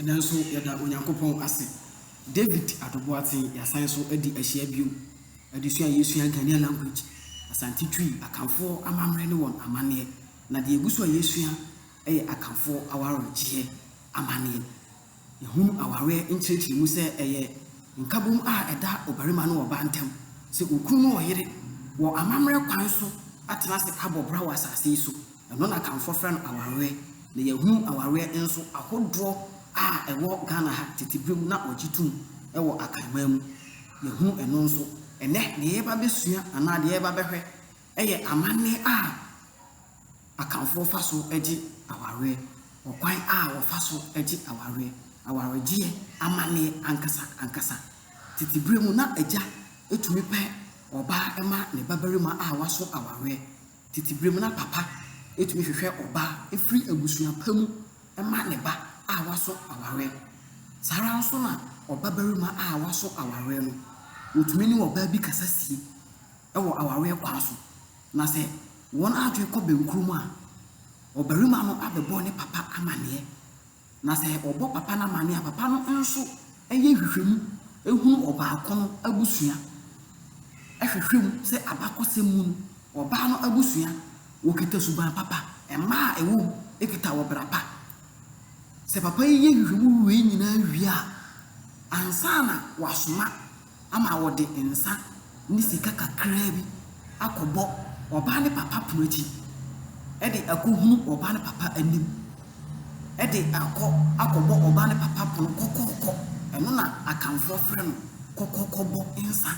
Nanso yɛda Onyankopɔn ase, David Adoboateng yɛasan so adi ahyia bio, adesua a yɛresua Ghanaian language, Asante Twi, Akanfoɔ amammerɛ ne wɔn amanneɛ, na deɛ ɛgu so a yɛresua yɛ Akanfoɔ awaregyeɛ amanneɛ. Yɛhunu awareɛ nkyerɛkyerɛ mu sɛ ɛyɛ nkabom a ɛda ɔbarima ne ɔbaa ntam, sɛ okunu ne ɔyere wɔ amammerɛ kwan so atena ase abɔ bra wɔ asase yi so. Ɛno na Akanfoɔ frɛ no awareɛ. Na yɛahunu awareɛ nso ahodoɔ a ɛwɔ Ghana ha tete berɛ mu na wɔgye tom wɔ Akanman mu. Yɛahunu ɛno nso. Ɛnnɛ deɛ yɛreba abɛsua anaa deɛ yɛreba abɛhwɛ yɛ amanne a Akanfoɔ fa so gye awareɛ, ɔkwan a wɔfa so gye awareɛ, awaregyeɛ amanneɛ ankasa ankasa. Tete berɛ mu na agya tumi pɛ ɔbaa ma ne babarima a waso awareɛ. Tete bere mu na papa tumi hwehwɛ ɔbaa firi abusua pa mu ma ne ba a waso awareɛ no. Saa ara nso na ɔbabarima a waso awareɛ no, ɔtumi ne ɔbaa bi kasa sie wɔ awareɛ kwan so. Na sɛ wɔn adwene kɔ bɛnkorɔ mu a, ɔbarima no abɛbɔ ne papa amanneɛ. Na sɛ wɔbɔ papa no amanneɛ a, papa no nso yɛ nhwehwɛmu hunu ɔbaako no abusua, hwehwɛ mu sɛ abakɔsɛm mu no, ɔbaa no abusua, wɔkita suban papa, mma a ɛwɔ mu kita ɔbra pa. Sɛ papa yi yɛ nhwehwɛmu wei nyinaa wie a, ansa na wasoma ama wɔde nsa ne sika kakraa bi akɔbɔ ɔbaa no papa pono akyi de akɔhunu ɔbaa no papa anim de akɔ akɔbɔ ɔbaa no papa pono kɔkɔɔkɔ. Ɛno na Akanfoɔ frɛ no kɔkɔɔkɔbɔ nsa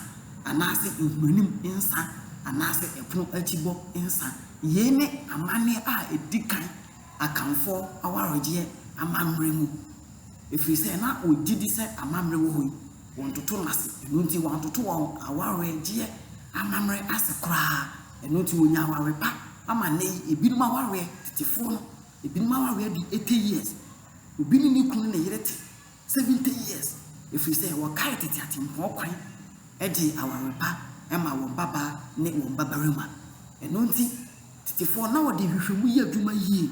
anaase nhuranim nsa anaase ɛpono akyi bɔ nsa. Yei ne amanneɛ a ɛdi kan Akanfoɔ awaregyeɛ amammerɛ mu ɛfiri sɛ na wɔgyedi sɛ amammerɛ wɔ hɔ yi. Wɔntoto no ase, ɛno nti wɔantoto wɔn awaregyeɛ amammerɛ ase koraa, ɛno nti wɔnya aware pa ama nnɛ yi ebinom awareɛ, tetefoɔ no, ebinom awareɛ di 80 years, obi ne ne kunu ne ne yere te 70 years, ɛfiri sɛ wɔkae tete atempɔn kwan de aware pa ma wɔn babaa ne wɔn babarima. Ɛno nti tetefoɔ na wɔde nhwehwɛmu yɛ adwuma yie,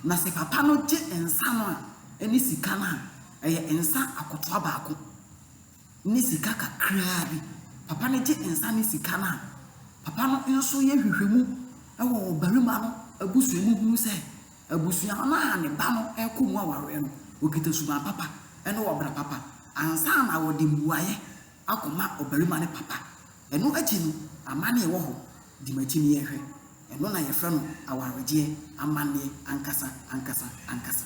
na sɛ papa no gye nsa no a, ɛne sika no a, Ɛyɛ nsa akotoa baako ne sika kakraa bi. Papa no gye nsa ne sika no a, papa no nso yɛ nhwehwɛmu wɔ ɔbarima no abusua mu hunu sɛ abusua no a ne ba no rekɔ mu awareɛ no, wɔkita suban papa ne ɔbra papa ansa na wɔde mmuaeɛ akɔma ɔbarima no papa. Ɛno akyi no, amanneɛ wɔ hɔ. Di m'akyi na yɛnhwɛ. Ɛno na yɛfrɛ no awaregyeɛ amanneɛ ankasa ankasa ankasa.